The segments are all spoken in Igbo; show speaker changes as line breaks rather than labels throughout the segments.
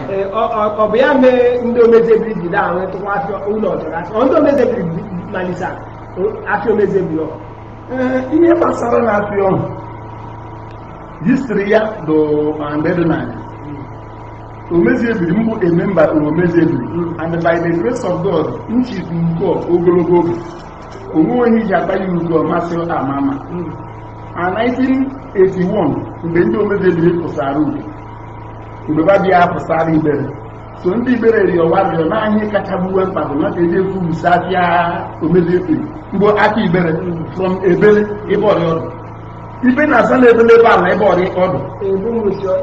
Ee, ọ- ọ- ọ bụ ya mee ndị
omezi ebiri ji da ahụ tụkwa afịa ụlọ ọjọrọ afịa ọ ndị omezi ebiri malisa afịa omezi ebiri ọ Ee, ihe gbasara na afịa ọhụ histri ya do ma mgbe dị n'anya omezi ebiri m bụ a member omezi ebiri and by the grace of god m chịtụ uke ogologo oge o nwe onye ji akpa ya ugo masị ama ama na 1981 mgbe ndị omezi ebiri pụsara ugo mgbe ba bịa pụsara igbere so ndị igbere rịọ wa rịọ na ihe kacha gbuwe mkpa bụ na ka eji ekwu wusa afịa omezi ebiri mgbe aka igbere from ebele ebe ọrịa ọdụ ibe na-aza na ebele ebe ala ebe ọrịa ọdụ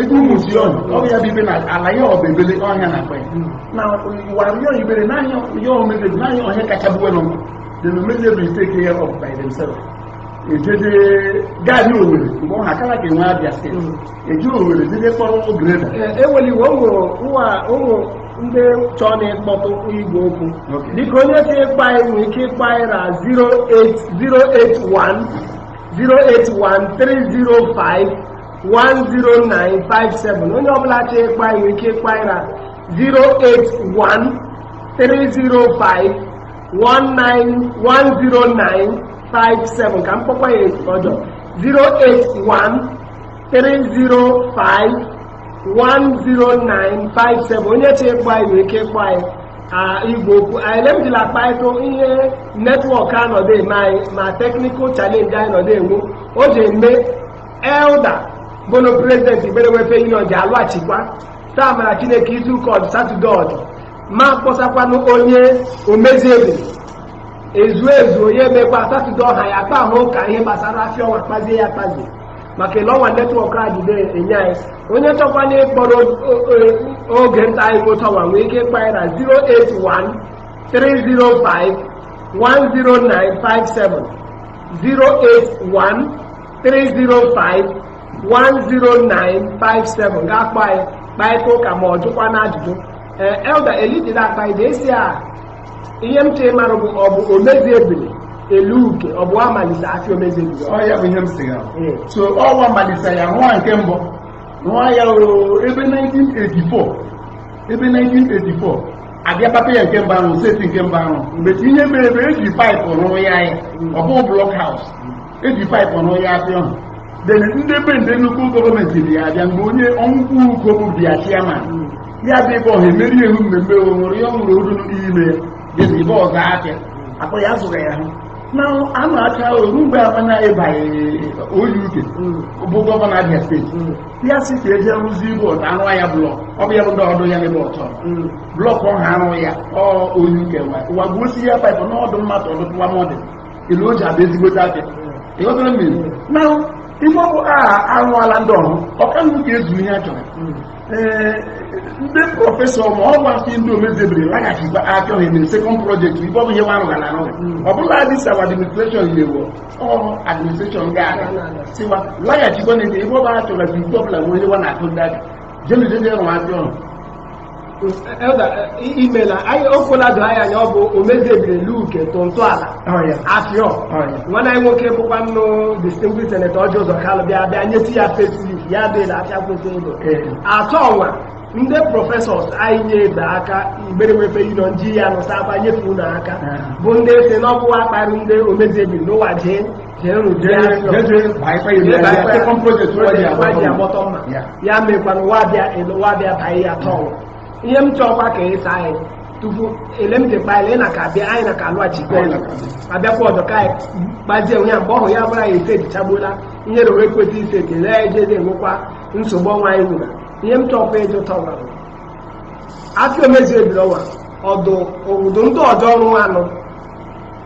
igbu muzion ọrụ ya bụ ibe na ala ya ọ bụ ebele ọhịa na akpa ya na wa rịọ igbere n'ahịa ya omezi ebiri n'ahịa ọhịa kacha gbuwe nọ dị na omezi ebiri take care of by themselves ejeje gaadị owerri mgbe ọ ha akara ka enwe abia steeti eji owerri jeje kpọrọ ụmụ
greda eweliwo ụmụ ụwa ụmụ ndị chọọ na ịkpọtụ igwe okwu Okay. biko onye chọ ịkpọ anyị nwere ike ịkpọ anyị na 08081 08130510957 onye ọbụla chọọ ịkpọ anyị nwere ike ịkpọ anyị na 08130510957 ka m kpọkwa ya ọjọ 081 305-10957 onye chọ ịkpọ anyị nwere ike ịkpọ anyị ah, igwe okwu anyị le m jila akpaịtụ ihe netwọk a nọdụ eme anyị ma technical challenge anyị nọdụ enwe o ji eme elda bono president igbere welfare union ji alọghachikwa taa mara chineke izu ụka ọdụ satọde ọdụ m akpọsakwanụ onye omezi ebiri ezu ezu onye emekwa satọde ọhụ anyị akpaa ụka ihe gbasara afịa ọnwa kpazie ya akpazi maka ele ọnwa netwọk a jide enye anyị onye chọkwa na ịkpọrọ o- o- oge nta anyị bụ tawa nwee ike ịkpọ anyị na 081 305 10957 081 305 10957 ga-akpọ anyị kparịta ụka ma ọ jụkwa na ajụjụ ee elda elitida akpa ide esi a ihe m chọ ịmara bụ ọ bụ omezi ebiri elu uke ọ bụ wa malisa afịa omezi ebiri ọ ya bụ ihe m sị ya
Ee. so ọ wa malisa ya nwa nke mbụ nwa ya o ebe 1984 ebe 1984 abịa papa ya nke mbụ arụ seti nke mbụ arụ but ihe mere ebe eji paịpụ rụrụ ya ya ọ bụ block house eji paịpụ rụọ ya afịa ọhụ then ndị be ndị nnukwu gọọmenti dị ya abịa mgbe onye ọnwụkwụ uko bụ bịa chiaman ya bụ ebe ọha emeri ehu mmemme o nwere ya ọ nwụrụ odu n'ime dịzi ebe ọzọ afịa akpọ ya zụrụ ya hụ na anụ acha oru mgbe amana ịbanye onye uke bụ gọvanọ abia steeti ya si ka eje rụzi ibu ọta arụ ya blọk ọ bụ ya bụ ndị ọdụ ya n'ebe ọtọ blọk ọha arụ ya ọ oyi uke wa gbuo si ya paịpụ n'ọdụ mmadụ ọdụ tụwa mọdụ ele o ji abịa ezigbote afịa ịghọtara mmiri na ife ọbụ arụọla ndị ọhụ ọka nnu ka ezu ihe a chọrọ ee ndị prọfesọ ma ọ gwasị ndị omezi ebiri laghachikwa achọghị mere sekọnd projekti ife ọbụ ihe nwa arụwala arụghị ọ bụla this our administreshọn ilewo ọrụ administreshọn ga-aga sị wa laghachikwa na ebe ọbụ a chọrọ ka ike ọbụla nwee ihe nwa na-akụ ndị aka jemejeje rụwa afịa ọhụ
imela anyị okwela doo anyị anya ọ bụ omezi ebiri luke tụ ntọala afịa nwanne anyị nwoke bụkwa nnụ distinguished senator ọjị ụzọ kalụ bịa bịa nyetụ ya facelift ya dịla afịa kwesị ụlọ atọ ọnwa ndị prọfesọs anyị nye ebe aka igbere welfare union ji ya nọsa aba nyetụ unu aka bụ ndị si n'ọbụwa akparị ndị omezi ebiri n'ụwa jee ya mekwana wa bịa baa ya tọọ ihe m chọọkwa ka ịsa anyị tupu ele m dịkpa ele na ka bịa anyị na ka alụghachikwa ọzọ abịakwa ọzọ ka anyị gbazie onwe ya mgbe ọhụrụ ya bụla ya esetichagbuola ihe rere ekwesị ise ekele ya ejezi enwekwa nsogbu ọnwa anyị nwere ihe m chọọkwa ịjụ tọwa afịa omezi ebiri ọnwa ọdụ obodo ndị ọdọ ọrụ anụ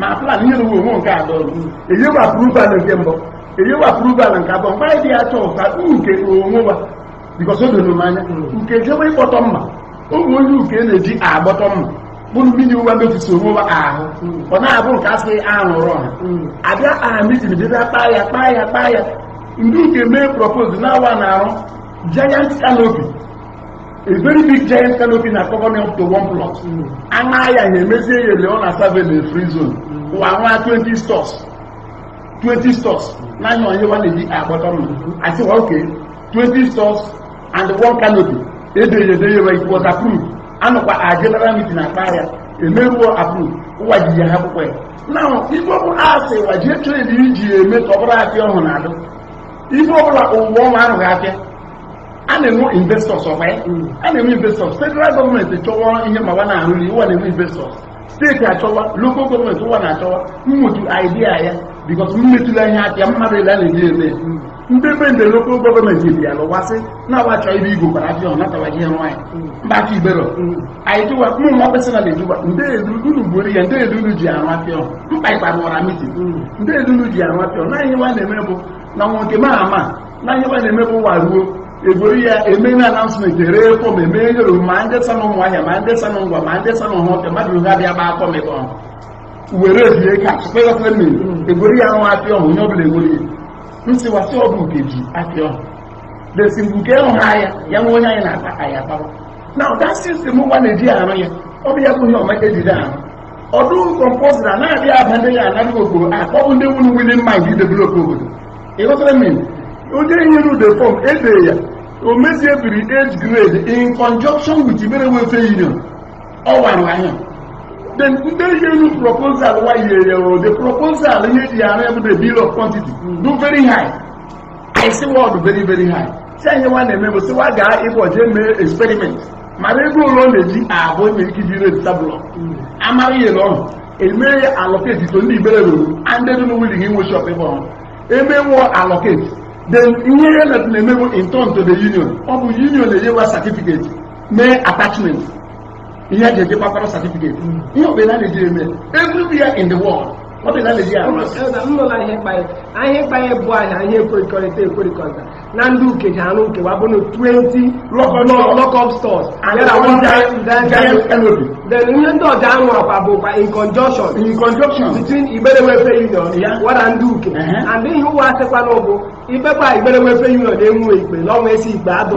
ma plan ihe na uwe nke atọ eyewa approval nke mbụ eyewa approval nke abụọ mgbe anyị dị ya chọọ ka uke onwe wa bikọs o doro m anya uke jebe ịkpọtọ mma ụmụ ndị uke na-eji agbọtọ mma bụrụ mmiri ụwa mefisi onwe wa ahụ ọ na-abụ nke asị arụrụ ọha abịa aha mitin bịa kpaa ya kpaa ya kpaa ya ndị uke mee propose na wa na-arụ giant canopy a very big giant canopy na cover up to one plot aṅa ya ya emezie ya ele ọ na-aserve na free zone ụwa nwa 20 stores 20 stores n'anya onye wa na-eji agbọtọ mma asị wa okay 20 stores and one canopy edere edere ya it was approved anọkwa a general meeting na akpa ya emeruo approved ụwa ji ya ha akwụkwọ ya now ife ọbụla asị wa jee trade iji eme ka ọ bụrụ afịa ọhụrụ na-adụ ife ọbụla ụwa ọnwa arụghị afịa a na-enwe investors ọkwa ya a na-enwe investors federal gọọmenti chọwa ihe ma wa na-arụli ụwa na-enwe investors steeti achọwa local gọọmenti ụwa na-achọwa mmutu idea ya because mmetụla ihe aka ya mmadụ ile a na-eji eme ndị be ndị local gọọmenti bịa lụwasị na-awa chọọ ibe igwe kwara afịa ọnatawa ihe nwaanyị mba aka ibero anyị jụwa ụmụ nwa personal na-ejụwa ndị elu unu gburu ya ndị elu unu ji arụ afịa ọhụ mkpa ịkpa rụwara mitin ndị elu unu ji arụ afịa ọhụ na ihe nwa na-eme bụ na nwoke ma ama na ihe nwa na-eme bụ ụwa ruo egwere ya eme na announcement ree fọm eme nyere ma ndị sa na Ụmụahịa ma ndị sa na Ngwa ma ndị sa na Ọhafịa mmadụ ha bịa gba fọm ebe ọhụ were ebie ka kpekọta mme egwere ya nwa afịa ọhụ onye ọbụla egwere ya nsị wasị ọbụ nke ji afịa ọhụ desi mgbe nke ịhụ ha ya ya nwe onye anyị na-akpa anyị akpawa na ụda system ụwa na-eji arụ ya ọ bụ ya bụ ihe ọma ejide arụ ọ dụ compulsory na-abịa aba ndị ya anaghị okporo akpọbụ ndị nwere willing mind idevelop obodo ịghọtara m iwu onye nyere ude fọm ede ya Omezi Ebiri age grade in conjunction with Igbere Welfare Union ọ wara anya then ndị yelu proposal wa yere o the proposal ihe ji arụ ya bụ the bill of quantity dụ very high i see word very very high so ihe nwa na-eme bụ si wa gaa ịbụ jee mee experiment mara ego ole ọ na-eji abụ enwere ike iji rate tabụlọ amara ihe na ọhụ emee ya allocate to ndị Igbere ruru and ndị dụ willing inwe shop ebe ọhụrụ emee wa allocate then ihe ya na-eme bụ in turn to the union ọ bụ union na-enye wa certificate mee attachment ihe eji eji gbakwara certificate ihe ọbụla na-eji eme everywhere in the world ọ dị na Naịjirịa nnụla ihe mkpanye
ahịa mkpanye bụ ahịa ihe ekwerikọrịta ekwerikọta na ndị uke ji arụ nke wa bụ na 20 lockup stores then ihe ndị ọ ja-arụ akwa bụkwa in conjunction in conjunction between Igbere Welfare Union wara ndị uke uh-huh. and ihe ụwa asịkwa na ụbụ ikpekwa Igbere Welfare Union na-enwe ikpe na ọnwa esi ikpe adọ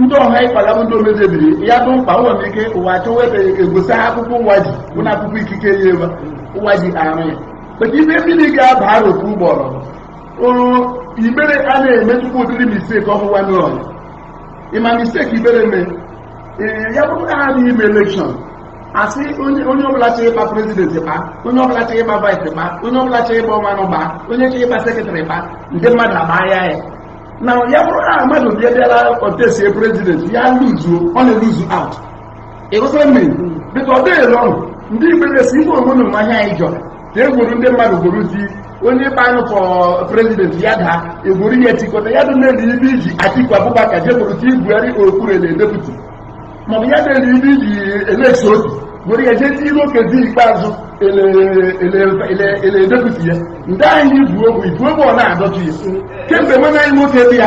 ndị ọha ịkwala bụ ndị Omezi Ebiri ya bụ mkpa ụwa ike ụwa achọwa ebe egosi ha akwụkwọ ụwa ji bụ na akwụkwọ ikike ya ebe ụwa ji arụ ya maka ibe mmiri ga-aba arụ otu ụgbọrọ Igbere a na-emetụkwa ụdịrị mistake ọhụwa number one mistake Igbere mee ya bụrụ na ha na-eme election asị onye ọbụla chọrọ ịgba president gba onye ọbụla chọrọ ịgba vice gba onye ọbụla chọrọ ịgba ọmanụ gba onye chọrọ ịgba secretary gba ndị mmadụ agba ya ya na ya bụrụ na mmadụ bịa bịara contestie president ya luzuo ọ na-eluzu out ịghọtara mmiri because ọ dịghị ọnụ ndị Igbere esi ife onwe na mmanya anyị jọrọ ka e gwuru ndị mmadụ gwuru di onye ikpe anyị for president ya daa egwuru ya etikọta ya dị ele ibe iji Atiku Abubakar je gwuru ti Buhari okpuru ele deputy maọbụ ya dị ele ibe iji Alex Otti were ya jee n'iru Okezie Ikpeazụ ele deputy ya ndị anyị bụ ogbu ibu ogbu ọ na-adọtụ ya kemgbe nwe anyị nwoke dị ya